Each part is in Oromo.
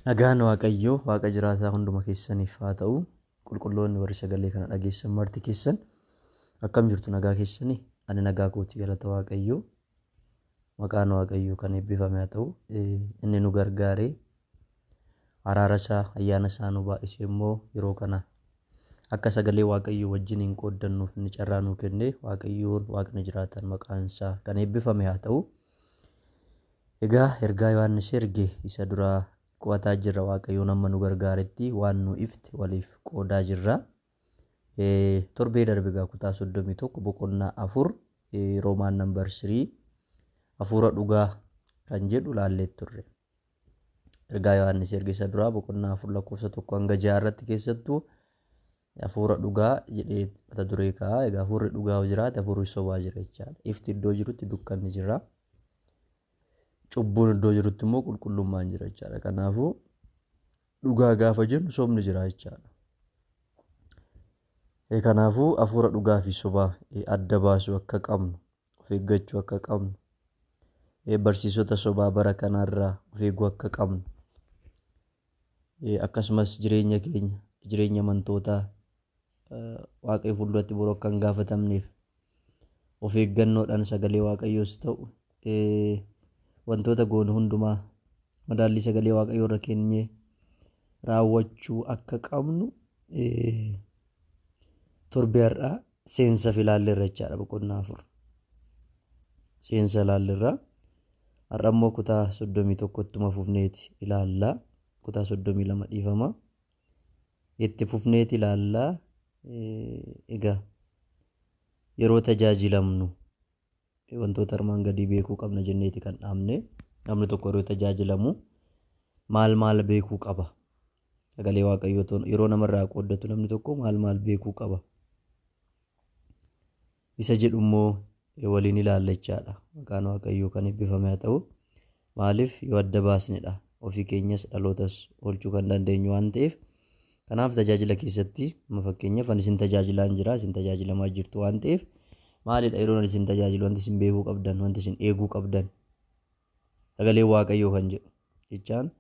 Nagaan Waaqayyoo Waaqa jiraataa hunduma keessaniif haa ta'u. Qulqulloonni warri sagalee kana dhageessan marti keessan akkam jirtu nagaa keessani? Ani nagaa kooti galata Waaqayyoo. Maqaan Waaqayyoo kan eebbifame haa ta'u. Inni nu gargaaree araara isaa ayyaana isaa nu baay'isee immoo yeroo kana akka sagalee Waaqayyoo wajjin hin qooddannuuf inni carraa nuu kenne Waaqayyoon Waaqni jiraataan maqaan isaa kan eebbifame haa ta'u. Egaa ergaa Yohaannis erge isa duraa qo'ataa jirra. Waaqayyoon amma nu gargaaretti waan nu ifte waliif qoodaa jirra. Torbee darbe egaa kutaa 31 boqonnaa 4 Roomaan nambar 3 hafuura dhugaa kan jedhu laallee turre. Ergaa Yohaannis erge isa duraa boqonnaa 4 lakkoofsa 1 hanga 6 irratti keessattuu Hafuura dhugaa jedhee mata duree kaa'a. Egaa hafuurri dhugaa yoo jiraate hafuurri sobaa jira jechaadha. Ifti iddoo jirutti dukkanni jira. Cubbuun iddoo jirutti immoo qulqullummaan jira jechaadha. Kanaafuu dhugaa gaafa jennu sobni jira jechaadha. Eh, Kanaafuu hafuura dhugaa fi sobaa eh, adda baasuu akka qabnu, of eeggachuu akka qabnu, eh, barsiisota sobaa bara kanaarraa of eeguu akka qabnu akkasumas jireenya keenya jireenya amantootaa waaqayyo fuulduratti boru akka hin gaafatamneef of eeggannoodhaan sagalee waaqayyoos ta'u wantoota goonu hundumaa madaallii sagalee waaqayyoo irra keenyee raawwachuu akka qabnu torbee har'aa seensafi ilaalleerra jechaadha boqonnaa afur seensa ilaalleerra har'a immoo kutaa soddomii tokko ittuma fufneeti ilaalla kutaa soddomii lama dhiifama itti fufneeti ilaalla egaa yeroo tajaajilamnu wantoota armaan gadii beekuu qabna jenneeti kan dhaabne. Namni tokko yeroo tajaajilamu maal maal beekuu qaba? Sagalee Waaqayyoo ta'uun yeroo namarraa qooddatu namni tokko maal maal beekuu qaba? Isa jedhu immoo waliin ilaalla jechaadha. Maqaan Waaqayyoo kan eebbifame haa ta'u. Maaliif yoo adda baasnedha ofii keenyas dhalootas oolchuu kan dandeenyu waan ta'eef kanaaf tajaajila keessatti amma fakkeenyaaf ani isin tajaajilaan jira isin tajaajilamaa jirtu waan ta'eef maalidha yeroo ani isin tajaajilu wanti isin beekuu qabdan wanti isin eeguu qabdan sagalee waaqayyoo kan jedhu jechaan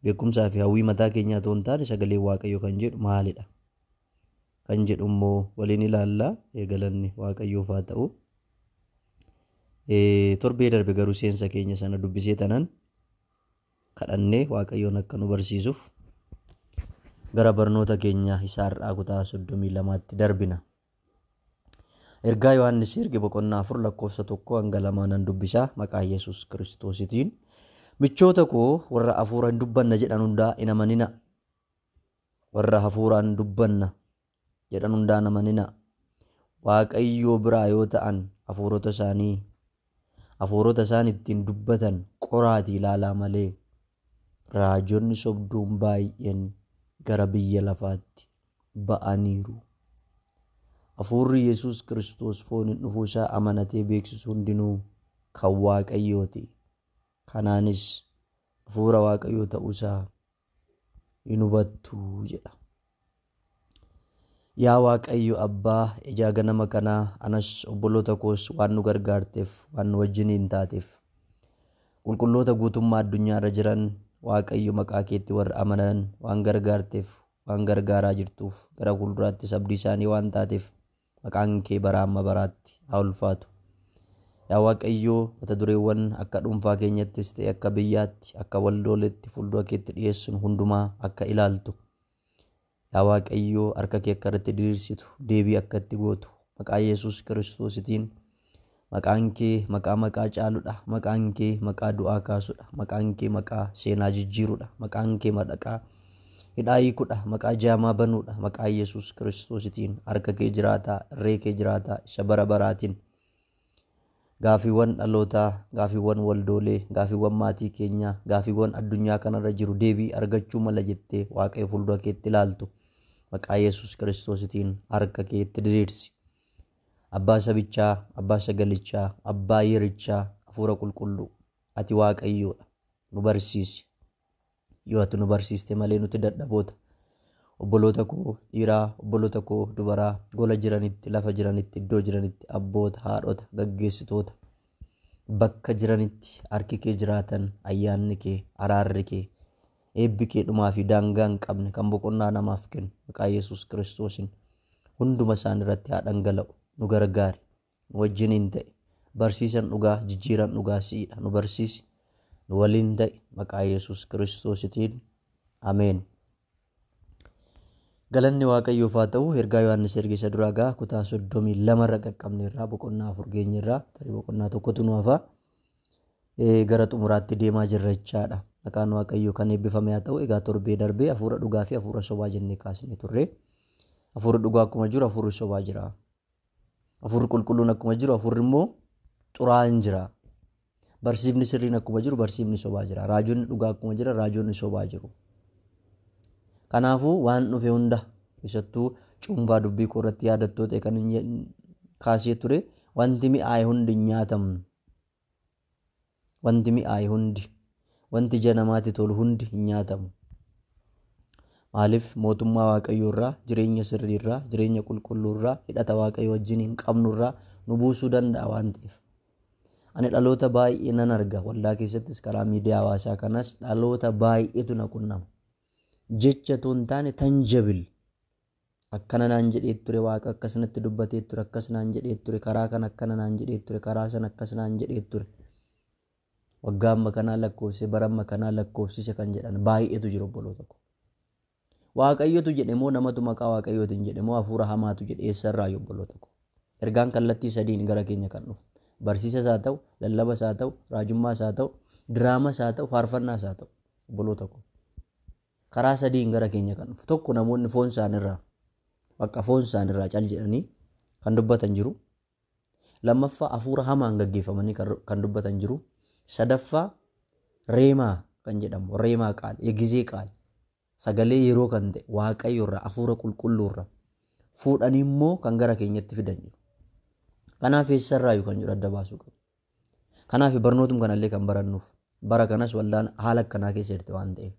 beekumsaa fi hawwii mataa keenyaa ta'uu hin taane sagalee waaqayyoo kan jedhu maalidha kan jedhu immoo waliin ilaalla. Galanni Waaqayyoof haa ta'u. Torbee darbe garuu seensa keenya sana dubbisee tanan kadhannee Waaqayyoon akka nu barsiisuuf gara barnoota keenya isa har'aa kutaa 32tti darbina. Ergaa Yohaannis erge boqonnaa 4 lakkoofsa 1 hanga 2 nan dubbisa maqaa Yesuus Kiristoositiin. Michoota koo warra hafuura hin dubbanna jedhan hundaa hin amanina. Warra hafuuraan dubbanna jedhan hundaan hin amaninaa. Waaqayyoo biraa yoo ta'an hafuurota isaanii, hafuurota isaan ittiin dubbatan qoraatii ilaalaa malee, raajonni sobduun baay'een gara biyya lafaatti ba'aniiru. Hafuurri Yesuus Kiristoos fooniin dhufuu isaa amanatee beeksisu hundinuu kan Waaqayyooti. Kanaanis hafuura Waaqayyoo ta'uu isaa hin hubattu jedha. Yaa Waaqayyo Abbaa ijaa ganama kanaa anas obboloota koos waan nu gargaarteef waan nu wajjiniin taateef qulqulloota guutummaa addunyaa irra jiran Waaqayyo maqaa keetti warra amanan waan gargaarteef waan gargaaraa jirtuuf gara fuulduraattis abdii isaanii waan taateef Maqaan kee baraa amma baraatti haa ulfaatu. Yaa Waaqayyo, mata dureewwan akka dhuunfaa keenyattis ta'e akka biyyaatti, akka waldooleetti fuuldura keetti dhiyeessun hundumaa akka ilaaltu. Yaa Waaqayyo, harka kee akka irratti diriirsitu, deebii akka itti gootu, maqaa Yesuus Kiristoositiin Maqaan kee maqaa maqaa caaludha. Maqaan kee maqaa du'aa kaasudha. Maqaan kee maqaa seenaa jijjiirudha. Maqaan kee maqaa hidhaa hiikudha. Maqaa jaamaa banuudha. Maqaa Yesuus Kiristoositiin harka kee jiraataa, irree kee jiraataa, isa bara baraatiin. Gaafiiwwan dhalootaa, gaafiiwwan waldoolee, gaafiiwwan maatii keenyaa, gaafiiwwan addunyaa kanarra jiru deebii argachuu mala jettee Waaqayyo fuuldura keetti ilaaltu. Maqaa Yesuus Kiristoositiin harka keetti diriirsi. Abbaa sabichaa, Abbaa sagalichaa, Abbaa yerichaa, Hafuura Qulqulluu. Ati Waaqayyoodha. Nu barsiisi. Yoo ati nu barsiiste malee nuti dadhaboota. Obboloota koo dhiiraa, obboloota koo dubaraa, gola jiranitti, lafa jiranitti, iddoo jiranitti, abboota, haadhota, gaggeessitoota, bakka jiranitti harki kee jiraatan, ayyaanni kee, araarri kee, eebbi kee dhumaa fi daangaa hin qabne kan boqonnaa namaaf kennu maqaa Yesuus Kiristoosiin hunduma isaanii irratti haa dhangala'u nu gargaari nu wajjiniin ta'i barsiisan dhugaa jijjiiran dhugaa si'idha nu barsiisi nu waliin ta'i maqaa yesus kiristoositiin ameen galanni waaqayyoof haa ta'u ergaa yohaannis ergeessa duraa gaa kutaa soddomii lama irra qaqqabne irraa boqonnaa afur geenye irraa tarii boqonnaa tokkotu nu hafaa gara xumuraatti deemaa jirra jechaadha. Maqaan Waaqayyoo kan eebbifame haa ta'u. Egaa torbee darbee hafuura dhugaa fi hafuura sobaa jennee kaasnee turre. Hafuurri dhugaa akkuma jiru hafuurri sobaa jira. Hafuurri qulqulluun akkuma jiru hafuurri immoo xuraa'aan jira. Barsiifni sirriin akkuma jiru barsiifni sobaa jira. Raajonni dhugaa akkuma jira raajonni sobaa jiru. Kanaafuu waan dhufe hunda keessattuu cuunfaa dubbii koo irratti yaadattoota kan kaasee ture wanti mi'aaye hundi hin nyaatamne. Wanti mi'aaye hundi, wanti ija namaatti tolu hundi hin nyaatamu. Maaliif mootummaa Waaqayyoo irraa, jireenya sirrii irraa, jireenya qulqulluu irraa, hidhata Waaqayyoo wajjiniin qabnu irraa nu buusuu danda'a waan ta'eef. Ani dhaloota baay'ee nan arga waldaa keessattis karaa miidiyaa hawaasaa kanas dhaloota baay'eetu na qunnama. Jecha otoo hin taane tanjabil akkana naan jedhee ture waaqa akkas natti dubbatee ture akkas naan jedhee ture karaa kan akkana naan jedhee ture karaa san akkas naan jedhee ture waggaa amma kanaa lakkoofsise bara amma kanaa lakkoofsise kan jedhan baay'eetu jiru obboloota koo waaqayyotu jedhe moo namatu maqaa waaqayyootiin jedhe moo hafuura hamaatu jedhe eessarraa obboloota koo ergaan kallattii sadiin gara keenya kan dhufu barsiisa isaa ta'u lallaba isaa ta'u raajummaa isaa ta'u diraamaa isaa ta'u faarfannaa isaa ta'u obboloota koo Karaa sadiin gara keenya kan dhufu. Tokko namoonni foon isaanirraa bakka foon isaanirraa cal jedhanii kan dubbatan jiru. Lammaffaa hafuura hamaan gaggeeffamanii kan dubbatan jiru. Sadaffaa reemaa kan jedhamu reemaa qaal yegizee qaal sagalee yeroo kan ta'e waaqayyoorraa hafuura qulqulluurraa fuudhanii immoo kan gara keenyatti fidan jiru. Kanaaf eessarraayyuu kan jiru adda baasuu qabna. Kanaafi barnootum kanallee kan barannuuf bara kanas waldaan haala akkanaa keessa jirti waan ta'eef.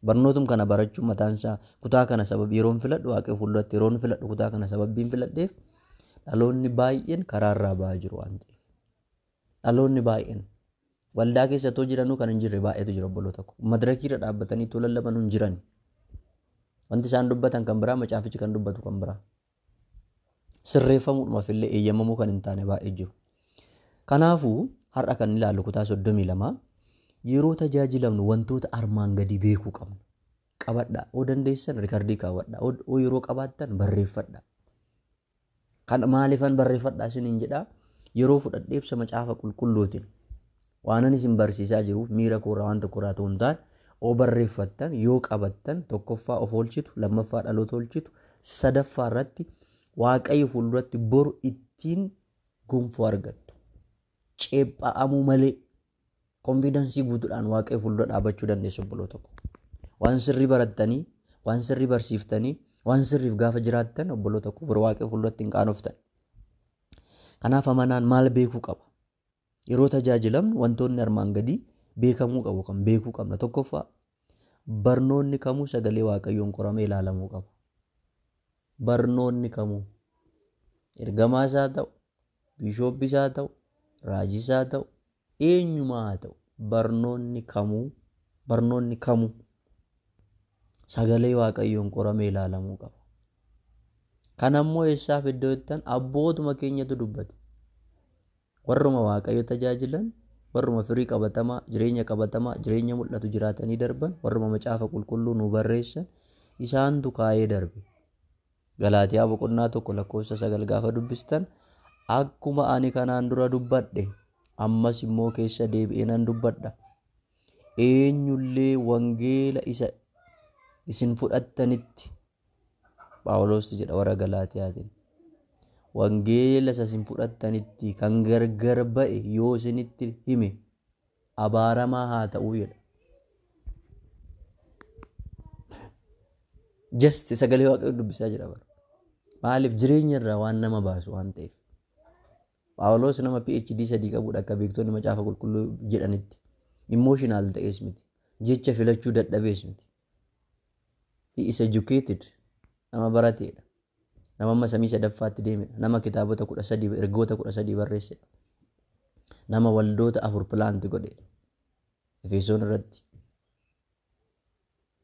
Barnootum kana barachuun mataan isaa kutaa kana sababii yeroon filadhu waaqee fuulduratti yeroon filadhu kutaa kana sababiin filadheef dhaloonni baay'een karaa irraa ba'aa jiru waan ta'eef. Dhaloonni baay'een waldaa keessattuu jiranuu kan hin jirre baay'eetu jira obboloo tokko. Madirakii irra dhaabbatanii too lallabanuu hin jiran. Wanti isaan dubbatan kan biraa macaafichi kan dubbatu kan biraa. sirreeffamuudhumaaf illee eeyyamamuu kan hin taane baay'ee jiru. Kanaafuu har'a kan ilaallu kutaa 32 yeroo tajaajilamnu wantoota armaan gadii beekuu qabna. Qabadha. Oo dandeessan rikardii kaawwadha. Oo yeroo qabaattan barreeffadha. Kan maaliifan barreeffadha isiniin jedha yeroo fudhadhee ibsa macaafa qulqulluutiin Waanan isin barsiisaa jiruuf miira koorraa waan tokkorraa otoo hin taane, oo barreeffattan, yoo qabattan, tokkoffaa of oolchitu, lammaffaa dhaloota oolchitu, sadaffaa irratti Waaqayyo fuulduratti boru ittiin gonfoo argattu. Ceepha'amuu malee konfiidansii guutuudhaan Waaqayyo fuuldura dhaabachuu dandeessu obboloota koo. Waan sirrii barattanii, waan sirrii barsiiftanii, waan sirriif gaafa jiraattan obboloota koo bor Waaqayyo fuulduratti hin qaanoftan. Kanaaf amanaan maal beekuu qaba? Yeroo tajaajilamnu wantoonni armaan gadii beekamuu qabu kan beekuu qabna. Tokkoffaa barnoonni kamuu sagalee waaqayyoon qoramee ilaalamuu qaba. Barnoonni kamuu ergamaa isaa ta'u, biishooppi isaa ta'u, raajii isaa ta'u, eenyumaa haa ta'u barnoonni kamuu barnoonni kamuu sagalee waaqayyoon qoramee ilaalamuu qaba. Kan ammoo eessaaf iddoo ittan abbootuma keenyatu dubbate. Warruma waaqayyo tajaajilan, warruma firii qabatamaa, jireenya qabatamaa, jireenya mul'atu jiraatanii darban, warruma macaafa qulqulluu nu barreessan isaantu kaa'ee darbe. Galaatiyaa boqonnaa tokko lakkoofsa sagal gaafa dubbistan akkuma ani kanaan dura dubbadhe ammas immoo keessa deebi'ee nan dubbadha. eenyu illee wangeela isa isin fudhattanitti Phaawulos jedha warra Galaatiyaatiin. Wangeela isa isin fudhattanitti kan gargar ba'e yoo isinitti hime abaaramaa haa ta'uu jedha. Just sagalee waaqayyoo dubbisaa jira bara. Maaliif jireenya irraa waan nama baasu waan ta'eef. Phaawulos nama PhD sadii qabudha akka beektonni macaafa qulqulluu jedhanitti. Emotional ta'ees miti. Jecha filachuu dadhabees miti. He is educated. Nama barateedha. Nama amma samii sadaffaatti deemedha. Nama kitaabota kudha sadii ergoota kudha sadii barreessedha. Nama waldoota afur pilaanti godheedha. Efesoon irratti,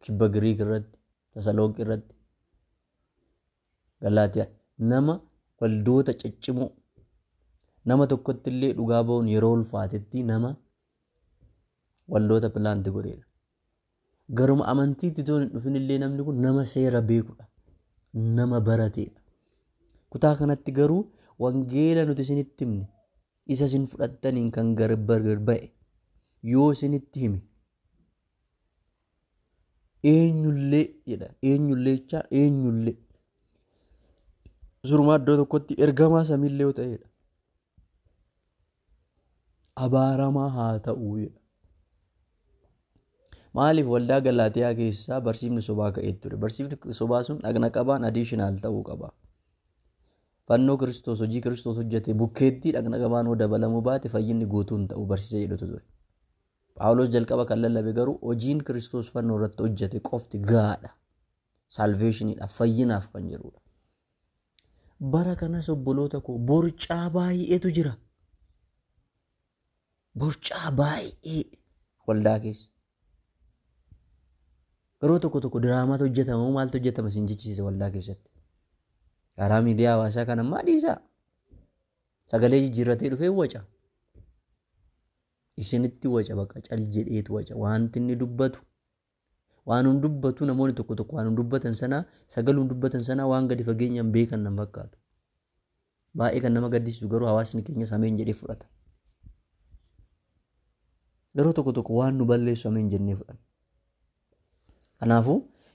kibba Giriik irratti, Tasalonqi irratti, Galaatiyaa, nama waldoota ciccimoo, nama tokkotti illee dhugaa ba'uun yeroo ulfaatetti nama waldoota pilaanti godheedha. Garuma amantiitti toon hin dhufin illee namni kun nama seera beekudha. Nama barateedha. Kutaa kanatti garuu wangeela nuti isinitti himne isa isin fudhattaniin kan gargar ba'e yoo isinitti hime eenyullee jedha eenyullee jechaa eenyullee surumaa iddoo tokkotti ergamaa samiillee yoo ta'edha abaaramaa haa ta'u jedha maaliif waldaa galaatiyaa keessaa barsiifni sobaa ka'ee ture barsiifni sobaa sun dhagna qabaan adiishinaal ta'uu qaba fannoo kiristoos hojii kiristoos hojjete bukkeetti dhagna qabaan yoo dabalamuu baate fayyinni guutuun ta'u barsiisa jedhutu ture Phaawulos jalqaba kan lallabe garuu hojiin Kiristoos fannoo irratti hojjete qofti gahaadha. Saalveeshiniidhaaf, fayyinaaf kan jedhudha. Bara kanas obboloota koo borcaa baay'eetu jira. Borcaa baay'ee waldaa keessa. Yeroo tokko tokko diraamaatu hojjetama maaltu hojjetama isin jechisiisa waldaa keessatti. Karaa miidiyaa hawaasaa kan ammaa dhiisaa. Sagalee jijjiirratee dhufee waca. Isinitti waca baqa cal jedheetu waca wanti inni dubbatu waanum dubbatu namoonni tokko tokko waanum dubbatan sana sagalum dubbatan sana waan gadi fageenyaan beekan nan fakkaatu. Baay'ee kan nama gaddisiisu garuu hawaasni keenya sameen jedhee fudhata. Yeroo tokko tokko waan nu balleessu sameen jennee fudhanna. Kanaafuu,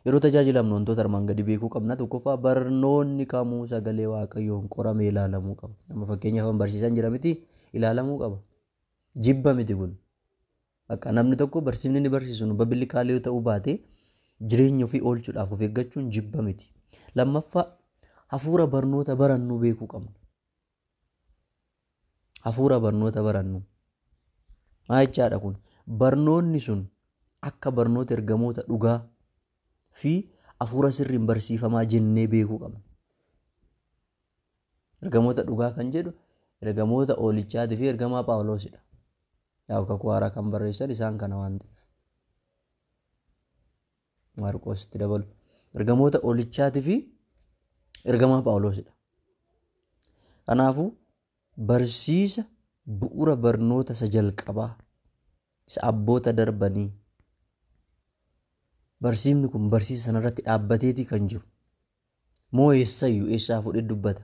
yeroo tajaajilamnu wantoota armaan gadii beekuu qabna. Tokkoffaa barnoonni kamuu sagalee Waaqayyoon qoramee ilaalamuu qaba. Amma fakkeenyaaf an barsiisan jira miti ilaalamuu qaba. Jibba miti kun. Bakka namni tokko barsiifni inni barsiisu nu babilikaalee yoo ta'uu baate jireenya ofii oolchuudhaaf of eeggachuun jibba miti. Lammaffaa hafuura barnoota barannuu beekuu qabna. hafuura barnoota barannu. Maa jechaadha kun? Barnoonni sun akka barnoota ergamoota dhugaa fi hafuura sirriin barsiifamaa jennee beekuu qabna. Ergamoota dhugaa kan jedhu ergamoota oolichaatii fi ergamaa Phaawuloosidha. Yaa'u kakuu haaraa kan barreessan isaan kana waan ta'eef. Maarqoos itti dabalu. Ergamoota olichaatii fi ergamaa Phaawuloosidha. Kanaafuu barsiisa bu'uura barnoota isa jalqabaa isa abboota darbanii barsiifni kun barsiisa sanarratti dhaabbateetii kan jiru. Moo eessayyu eessaa fudhe dubbata?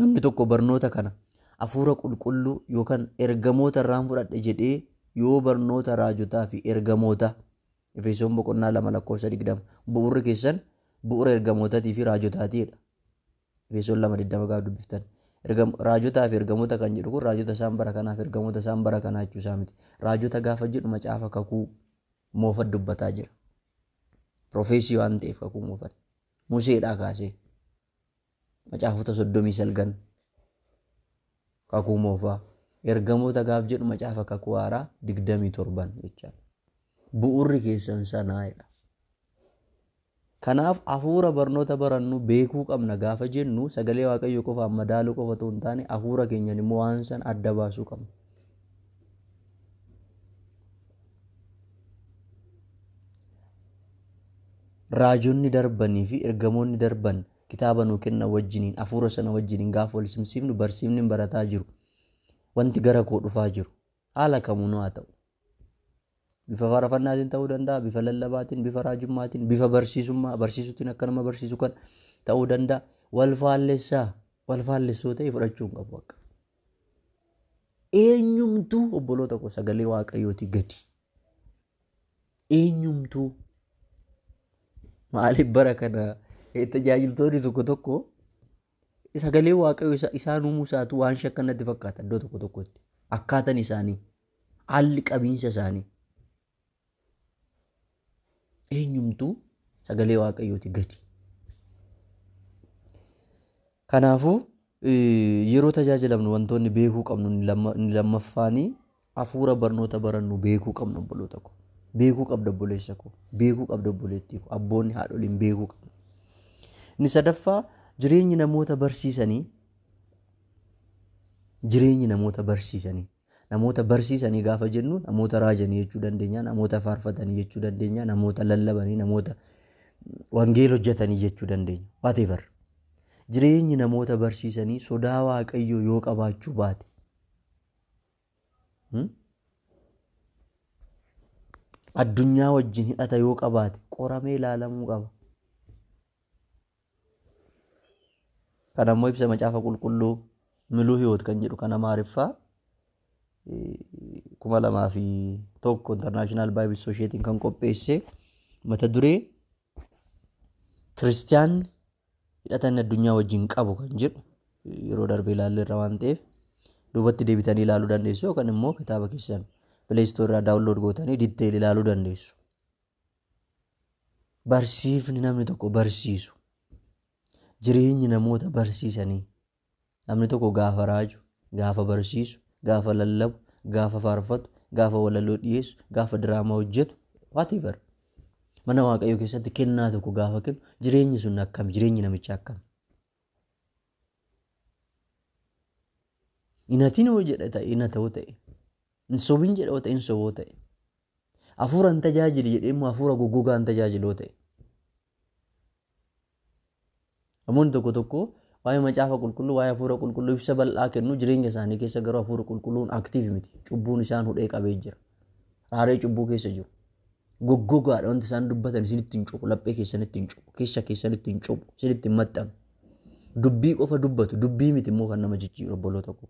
Namni tokko barnoota kana hafuura qulqulluu yookaan ergamoota irraan fudhadhe jedhee yoo barnoota raajotaa fi ergamoota Efesoon boqonnaa lama lakkoofsa digdama bu'uurri keessan bu'uura ergamootaatii fi raajotaatiidha. Efesoon lama digdama gaafa dubbiftan. Raajotaa fi ergamoota kan jedhu kun raajota isaan bara kanaaf ergamoota isaan bara kanaa jechuu isaa miti. Raajota gaafa jedhu macaafa kakuu moofa dubbataa jira. Profeesii waan ta'eef kakuu moofan. Museedhaa kaasee. Macaafota soddomii salgan. Kakuu moofaa. Ergamoota gaaf jedhu macaafa kakuu haaraa digdamii torban jechaa. Bu'urri keessan sanaa jedha. Kanaaf hafuura barnoota barannu beekuu qabna gaafa jennu sagalee waaqayyo qofaan madaaluu qofa otoo hin taane hafuura keenyan immoo waan san adda baasuu qabna. raajonni darbanii fi ergamoonni darban kitaaba nuu kenna wajjiniin hafuura sana wajjiniin gaafa wal simsiifnu barsiifni barataa jiru wanti gara koo dhufaa jiru haala kamuunuu haa ta'u bifa faarfannaatiin ta'uu danda'a bifa lallabaatiin bifa raajummaatiin bifa barsiisummaa barsiisuutiin akka nama barsiisu kan ta'uu danda'a wal faallessaa wal faallessoo ta'e fudhachuu hin qabu akka Eenyumtuu obboloota koo sagalee waaqayyootii gadi. Eenyumtuu maaliif bara kana tajaajiltoonni tokko tokko sagalee waaqayyoo isaan uumuu isaatu waan shakkan natti fakkaata iddoo tokko tokkotti akkaatan isaanii haalli qabiinsa isaanii Eenyumtuu sagalee waaqayyooti gadi. Kanaafuu yeroo tajaajilamnu wantoonni beekuu qabnu inni lammaffaanii hafuura barnoota barannu beekuu qabnu obboloota koo. Beekuu qabda obboleessa koo. Beekuu qabda obboleettii koo. Abboonni haadholiin beekuu qabna. Inni sadaffaa jireenyi namoota barsiisanii jireenyi namoota barsiisanii Namoota barsiisanii gaafa jennu namoota raajanii jechuu dandeenya, namoota faarfatanii jechuu dandeenya, namoota lallabanii, namoota wangeela hojjetanii jechuu dandeenya. Whatever. Jireenyi namoota barsiisanii sodaa waaqayyoo yoo qabaachuu baate. Hmm? Addunyaa wajjin hidhata yoo qabaate qoramee ilaalamuu qaba. Kana immoo ibsa macaafa qulqulluu miluu hiwoot kan jedhu kan amaariffaa kuma lamaa fi tokko intarnaashinaal baayibil soosheetiin kan qopheesse mata duree kiristiyaanni hidhata inni addunyaa wajjin qabu kan jedhu yeroo darbe ilaalle irra waan ta'eef duubatti deebitanii ilaaluu dandeessu yookaan immoo kitaaba keessan pileestoo irraa daawunlood gootanii ditteel ilaaluu dandeessu. Barsiifni namni tokko barsiisu jireenyi namoota barsiisanii namni tokko gaafa raaju gaafa barsiisu gaafa lallabu gaafa faarfatu gaafa walaloo dhiyeessu gaafa diraamaa hojjetu whatever mana waaqayyoo keessatti kennaa tokko gaafa kennu jireenyi sun akkam jireenyi namichaa akkam inatinoo jedhe ta'e ina ta'u ta'e Hin sobin jedha wata hin soboo ta'e. Hafuura hin tajaajili jedhee immoo hafuura goggogaa hin tajaajiloo ta'e. Namoonni tokko tokko waa'ee macaafa qulqulluu waa'ee hafuura qulqulluu ibsa bal'aa kennu jireenya isaanii keessa garuu hafuura qulqulluun aktiiv miti. Cubbuun isaan hudhee qabee jira. Raaree cubbuu keessa jiru. Goggogaadha wanti isaan dubbatan isinitti hin cubu laphee keessanitti hin cubu keessa keessanitti hin cubu isinitti hin maxxanu. Dubbii qofa dubbatu dubbii miti immoo kan nama jijjiiru obboloota koo.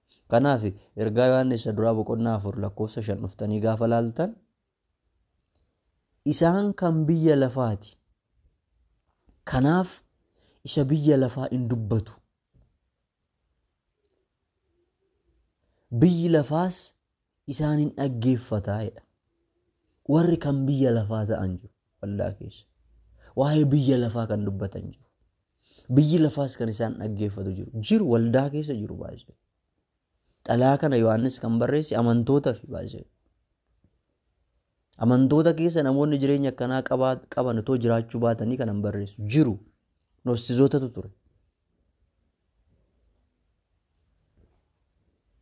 Kanaaf ergaa Yohaannis isa duraa boqonnaa afur lakkoofsa shan dhuftanii gaafa laaltan isaan kan biyya lafaati. Kanaaf isa biyya lafaa hin dubbatu. Biyyi lafaas isaan in dhaggeeffata jedha. Warri kan biyya lafaa ta'an jiru waldaa keessa. Waa'ee biyya lafaa kan dubbatan jiru. Biyyi lafaas kan isaan dhaggeeffatu jiru. Jiru waldaa keessa jiru baay'ee. Xalaa kana Yohaannis kan barreesse amantoota fi baay'ee. Amantoota keessa namoonni jireenya akkanaa qaban otoo jiraachuu baatanii kanan barreessu jiru. Nostizootatu ture.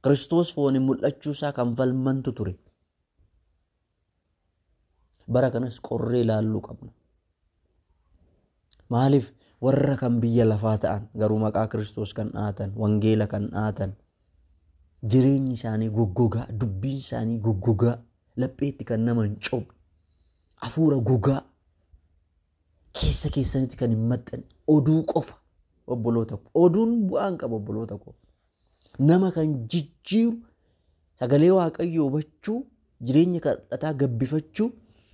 Kiristoos fooniin mul'achuu isaa kan falmantu ture. Bara kanas qorree ilaalluu qabna. Maaliif warra kan biyya lafaa ta'an garuu maqaa Kiristoos kan dhaatan, wangeela kan dhaatan, jireenyi isaanii goggogaa, dubbiin isaanii goggogaa, lapheetti kan nama hin cobne, hafuura gogaa, Keessa keessanitti kan hin maxxanne oduu qofa obboloota ko. Oduun bu'aa hin qabu obboloota ko. Nama kan jijjiiru sagalee waaqayyoo hubachuu jireenya kadhataa gabbifachuu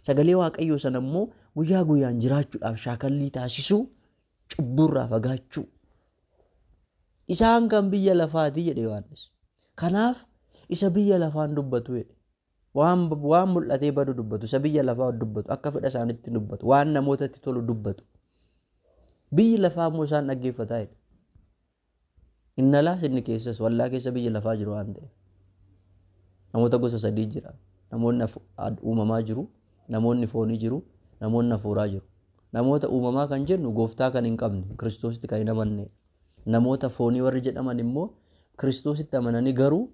sagalee waaqayyoo sana immoo guyyaa guyyaan jiraachuudhaaf shaakallii taasisuu cubbuurraa fagaachuu. Isaan kan biyya lafaati jedhe Yohaannis. Kanaaf isa biyya lafaan dubbatu jedhe. Waan, waan mul'atee badu dubbatu, isa biyya lafaa dubbatu, akka fedha isaanitti dubbatu, waan namootatti tolu dubbatu. Biyyi lafaa immoo isaan dhaggeeffataa jedha. Inni alaas inni keessas wallaa keessa biyyi lafaa jiru waan ta'eef. Namoota gosa sadii jira. Namoonni hafu- ad- uumamaa jiru, namoonni foonii jiru, namoonni hafuuraa jiru. Namoota uumamaa kan jennu gooftaa kan hin qabne, kiristoositti kan hin amanne. Namoota foonii warri jedhaman immoo kiristoositti amananii garuu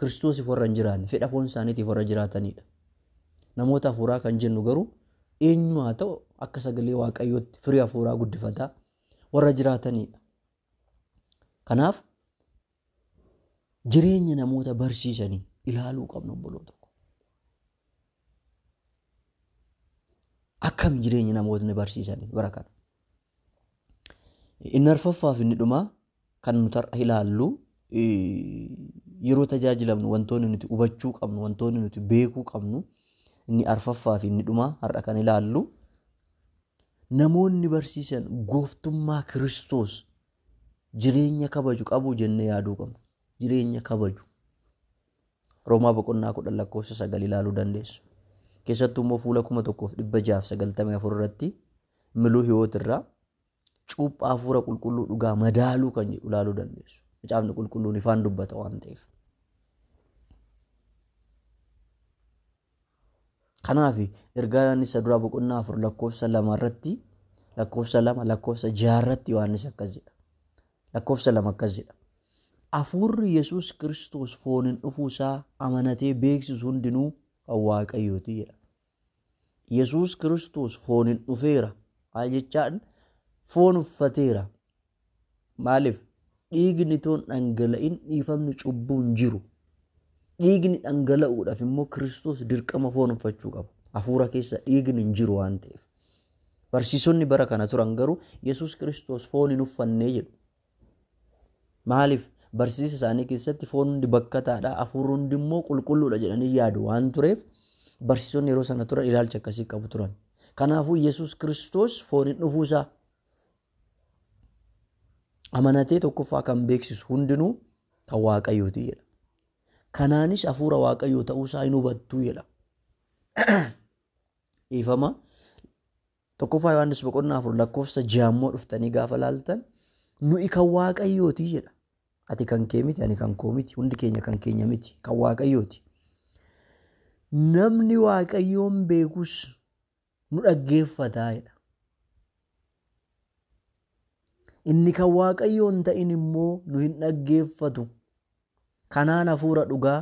Kiristoosiif warra hin jiraanne, fedha foon isaaniitiif warra jiraatanidha. Namoota hafuuraa kan jennu garuu eenyu haa ta'u akka sagalee waaqayyootti firii hafuuraa guddifataa warra jiraatanidha. Kanaaf jireenya namoota barsiisanii ilaaluu qabna obboloota. Akkam jireenya namootni barsiisanii bara kana? Inni arfaffaa fi inni dhumaa kan nuti har'a ilaallu yeroo tajaajilamnu wantoonni nuti hubachuu qabnu wantoonni nuti beekuu qabnu inni arfaffaa fi inni dhumaa har'a kan ilaallu namoonni barsiisan gooftummaa Kiristoos jireenya kabaju qabu jennee yaaduu qabna. Jireenya kabaju. Roomaa boqonnaa kudhan lakkoofsa sagal ilaaluu dandeessu. Keessattuu immoo fuula kuma tokkoof dhibba jaaf sagaltamii afur irratti Miluu Hiwoot irraa cuuphaa hafuura qulqulluu dhugaa madaaluu kan jedhu ilaaluu dandeessu. Macaafni qulqulluun ifaan dubbata waan ta'eef. Kanaaf ergaa Yohaannis duraa boqonnaa afur lakkoofsa lama irratti lakkoofsa lama lakkoofsa jaha irratti Yohaannis akkas jedha. Lakkoofsa lama akkas jedha. Hafuurri Yesuus Kiristoos fooniin dhufuu isaa amanatee beeksisu hundinuu kan Waaqayyooti jedha. Yesuus Kiristoos fooniin dhufeera maal jechaan foon uffateera. Maaliif dhiigni toon dhangala'in dhiifamni cubbuu hin jiru. Dhiigni dhangala'uudhaaf immoo Kiristoos dirqama foon uffachuu qaba. Hafuura keessa dhiigni hin jiru waan ta'eef. Barsiisonni bara kana turan garuu Yesuus Kiristoos foon hin uffannee jedhu. Maaliif? Barsiisa isaanii keessatti foon hundi bakkataadha, hafuurri hundi immoo qulqulluudha jedhanii yaadu waan tureef barsiisonni yeroo sana turan ilaalcha akkasii qabu turan. Kanaafuu Yesuus Kiristoos fooniin dhufuusaa amanatee tokkoffaa kan beeksisu hundinuu kan Waaqayyooti jedha. Kanaanis hafuura Waaqayyoo ta'uusaa hin hubattuu jedha. Dhiifama Tokkoffaa Yohaannis boqonnaa afur lakkoofsa jaammoo dhuftanii gaafa laaltan nuyi kan waaqayyooti jedha. Ati kan kee miti, ani kan koo miti, hundi keenya kan keenya miti, kan waaqayyooti. Namni waaqayyoon beekus nu dhaggeeffataa jedha. Inni kan waaqayyoon ta'in immoo nu hin dhaggeeffatu. Kanaan hafuura dhugaa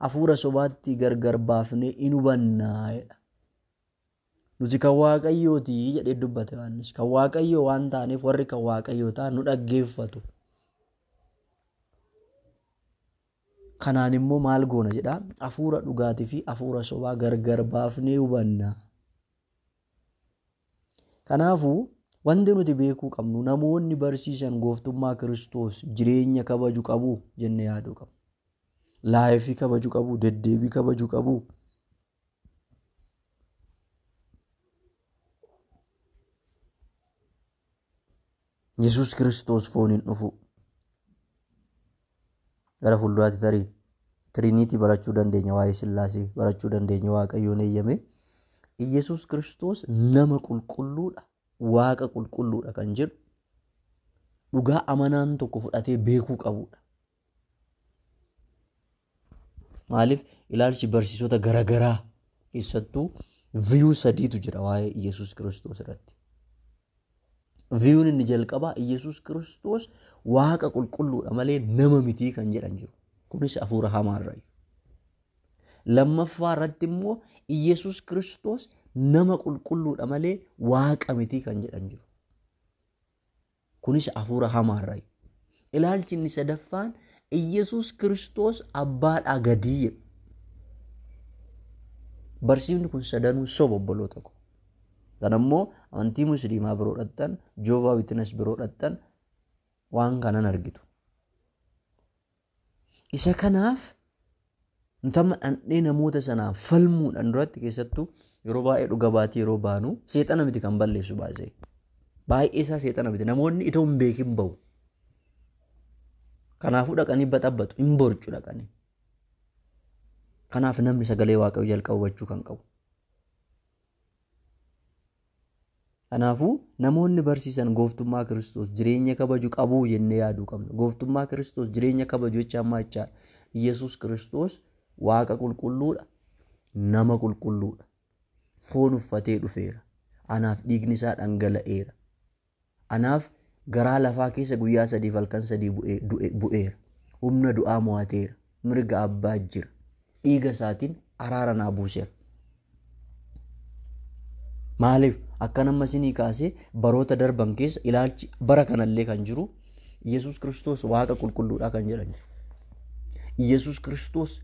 hafuura sobaatti gargar baafnee in hubannaa jedha. Nuti kan Waaqayyooti jedhee dubbate Yohaannis. Kan Waaqayyoo waan taaneef warri kan Waaqayyoo ta'an nu dhaggeeffatu. Kanaan immoo maal goona jedhaa? Hafuura dhugaatii fi hafuura sobaa gargar baafnee hubanna. Kanaafuu wanti nuti beekuu qabnu namoonni barsiisan gooftummaa Kiristoos jireenya kabaju qabu jennee yaaduu qabna. Laayifii kabaju qabu, deddeebii kabaju qabu. Yesuus Kiristoos fooniin dhufuu. Gara fuulduraatti tarii tiriiniitii barachuu dandeenya waa'ee sillaasee barachuu dandeenya waaqayyoon eeyyame. Yesuus Kiristoos nama qulqulluudha waaqa qulqulluudha kan jedhu dhugaa amanaan tokko fudhatee beekuu qabudha. Maaliif ilaalchi barsiisota garagaraa keessattuu viyuu sadiitu jira waa'ee Iyyasuus Kiristoos irratti. Viyuun inni jalqabaa Iyyasuus Kiristoos waaqa qulqulluudha malee nama mitii kan jedhan jiru. Kunis hafuura hamaarraayi. Lammaffaa irratti immoo Iyyasuus Kiristoos nama qulqulluudha malee waaqa mitii kan jedhan jiru. Kunis hafuura hamaarraayi. Ilaalchi inni sadaffaan Iyyasuus Kiristoos abbaadhaa gadii jedhu. Barsiifni kun sadanuu soba obboloota ko. Kan ammoo amantii musliimaa biroo dhaqxan, Joovaa Witines biroo dhaqxan waan kanan argitu. Isa kanaaf nuti amma dhandhee namoota sanaaf falmuudhaan duratti keessattuu yeroo baay'ee dhuga baatii yeroo baanu seexana miti kan balleessu baasee. Baay'ee isaa seexana miti namoonni itoo hin beekin bahu. Kanaafuu dhaqanii baxabbatu hin borcu dhaqanii. Kanaaf namni sagalee waaqayyoo jalqaba hubachuu kan qabu. Kanaafuu namoonni barsiisan gooftummaa Kiristoos jireenya kabaju qabuu jennee yaaduu qabna. Gooftummaa Kiristoos jireenya kabaju jecha ammaa jechaa Yesuus Kiristoos waaqa qulqulluudha, nama qulqulluudha. Foon uffatee dhufeera. Anaaf dhiigni isaa dhangala'eera. Anaaf garaa lafaa keessa guyyaa sadiif halkan sadii bu'ee- du'e- bu'eera. Humna du'aa mo'ateera. Mirga abbaa jira. Dhiiga isaatiin araara naa buuseera. Maaliif akkan amma isinii kaasee baroota darban keessa ilaalchi bara kanallee kan jiru Yesuus Kiristoos Waaqa qulqulluudhaa kan jedhan jiru. Yesuus Kiristoos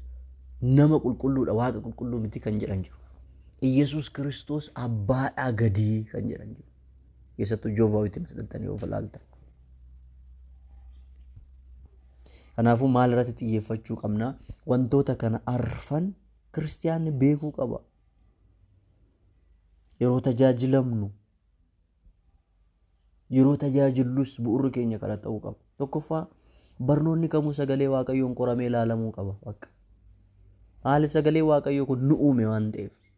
nama qulqulluudha Waaqa qulqulluu miti kan jedhan jiru. Yesuus Kiristoos abbaadhaa gadii kan jedhan jiru. keessattuu joovaa witness dhaqxanii yoo ilaaltan. Kanaafuu maal irratti xiyyeeffachuu qabna? Wantoota kana arfan kiristiyaanni beekuu qaba. Yeroo tajaajilamnu yeroo tajaajillus bu'urri keenya kana ta'uu qaba. Tokkoffaa barnoonni kamuu sagalee waaqayyoon qoramee ilaalamuu qaba. Bakka. Maaliif sagalee waaqayyoo kun nu uume waan ta'eef.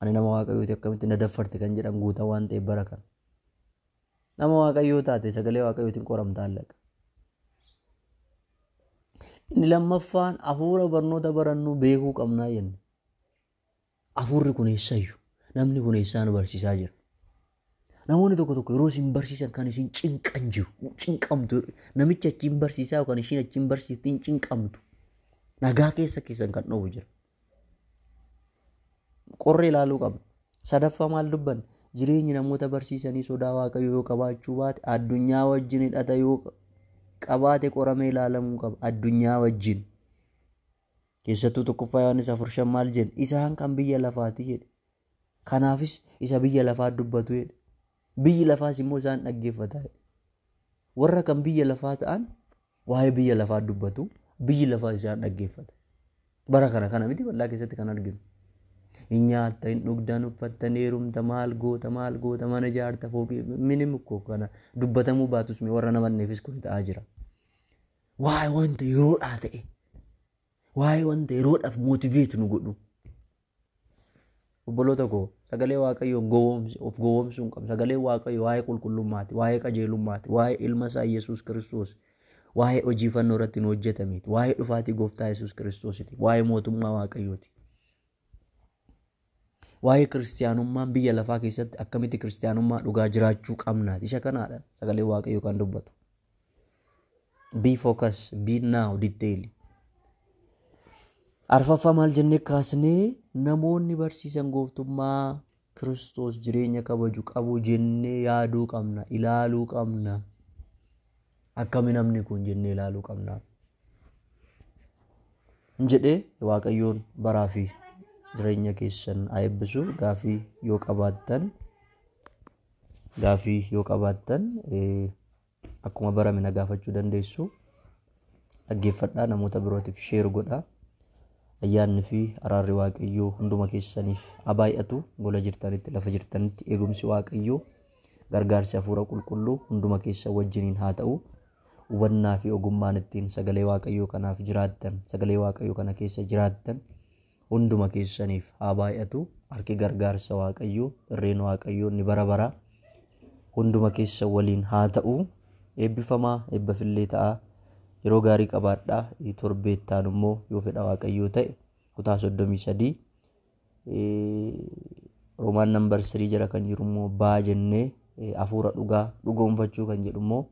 Ani nama waaqayyooti akkamitti na daffarte kan jedhan guutaa waan ta'eef bara kana. Nama waaqayyoo taate sagalee waaqayyootiin qoramta allaqa. Inni lammaffaan hafuura barnoota barannuu beekuu qabnaa jenne. Hafuurri kun eessayyu? Namni kun eessaa nu barsiisaa jira? Namoonni tokko tokko yeroo isin barsiisan kan isin cinqan jiru. Cinqamtu. Namichi achiin barsiisaa yookaan ishiin achiin barsiiftiin cinqamtu. Nagaa keessa keessan kan dhowwu jira. Qorree ilaaluu qabna. Sadaffaa maal dubbanne? Jireenyi namoota barsiisanii sodaa waaqayyoo yoo qabaachuu baate addunyaa wajjin hidhata yoo qabaate qoramee ilaalamuu qaba. Addunyaa wajjin. Keessattuu tokkoffaa Yohaannis afur shan maal jedhe? Isaan kan biyya lafaati jedhe. Kanaafis isa biyya lafaa dubbatu jedhe. Biyyi lafaas immoo isaan dhaggeeffata jedhe. Warra kan biyya lafaa ta'an waa'ee biyya lafaa dubbatu, biyyi lafaa isaan dhaggeeffata. Bara kana kana miti bal'aa keessatti kan arginu. Hin nyaatta, hin dhugda, hin uffatta, hin heerumta, maal goota, maal goota, mana ijaarta, fooqii, minim koo kana dubbatamuu baatus warra namanneefis kun ta'aa jira. Waa'ee wanta yeroodhaa ta'e. Waa'ee wanta yeroodhaaf mootiveetu nu godhu. Obboloota koo sagalee waaqayyoo gowwoomsi of gowwoomsuu hin qabnu. Sagalee waaqayyoo waa'ee qulqullummaati, waa'ee qajeelummaati, waa'ee ilma isaa Yesuus Kiristoos, waa'ee hojii fannoo irratti nu hojjetameeti, waa'ee dhufaatii gooftaa Yesuus Kiristoositi, waa'ee mootummaa waaqayyooti. Waa'ee kiristiyaanummaan biyya lafaa keessatti akkamitti kiristiyaanummaa dhugaa jiraachuu qabnaati. Isa kanaadha sagalee waaqayyoo kan dubbatu. Be focus, be now, detail. Arfaffaa maal jennee kaasnee namoonni barsiisan gooftummaa Kiristoos jireenya kabaju qabu jennee yaaduu qabna, ilaaluu qabna. akkami namni kun jennee ilaaluu qabna. jedhee waaqayyoon baraa fi jireenya keessan haa eebbisu gaafii yoo qabaattan gaafii yoo qabaattan akkuma barame na gaafachuu dandeessu dhaggeeffadhaa namoota birootiif sheer godhaa ayyaanni fi araarri waaqayyoo hunduma keessaniif haa baay'atu gola jirtanitti lafa jirtanitti eegumsi waaqayyoo Gargaarsi Hafuura Qulqulluu hunduma keessan wajjiniin haa ta'u. Hubannaa fi ogummaan ittiin sagalee Waaqayyoo kanaaf jiraattan, sagalee Waaqayyoo kana keessa jiraattan hunduma keessaniif haa baay'atu. Harki gargaarsa Waaqayyoo, irreen Waaqayyoo inni bara baraa hunduma keessan waliin haa ta'u. Eebbifamaa, eebbafillee ta'aa. Yeroo gaarii qabaadhaa. Torbeettaan immoo yoo fedha Waaqayyoo ta'e kutaa 33 Roomaan nambar sirii jala kan jiru immoo baa jennee hafuura dhugaa dhugoonfachuu kan jedhu immoo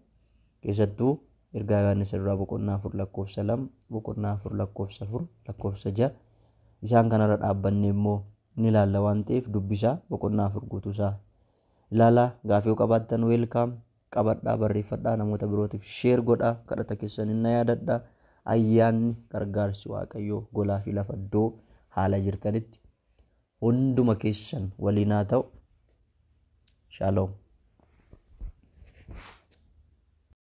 keessattuu ergaa Yohaannis irraa boqonnaa afur lakkoofsa lama boqonnaa afur lakkoofsa afur lakkoofsa ja'a isaan kanarra dhaabbannee immoo ni ilaalla waan ta'eef dubbisaa boqonnaa afur guutuusaa ilaalaa gaafii yoo qabaattan weelkaam qabadhaa barreeffadhaa namoota birootiif sheer godhaa kadhata keessan na yaadadha ayyaanni gargaarsi waaqayyoo golaa fi lafa iddoo haala jirtanitti hunduma keessan waliin haa ta'u shaaloom.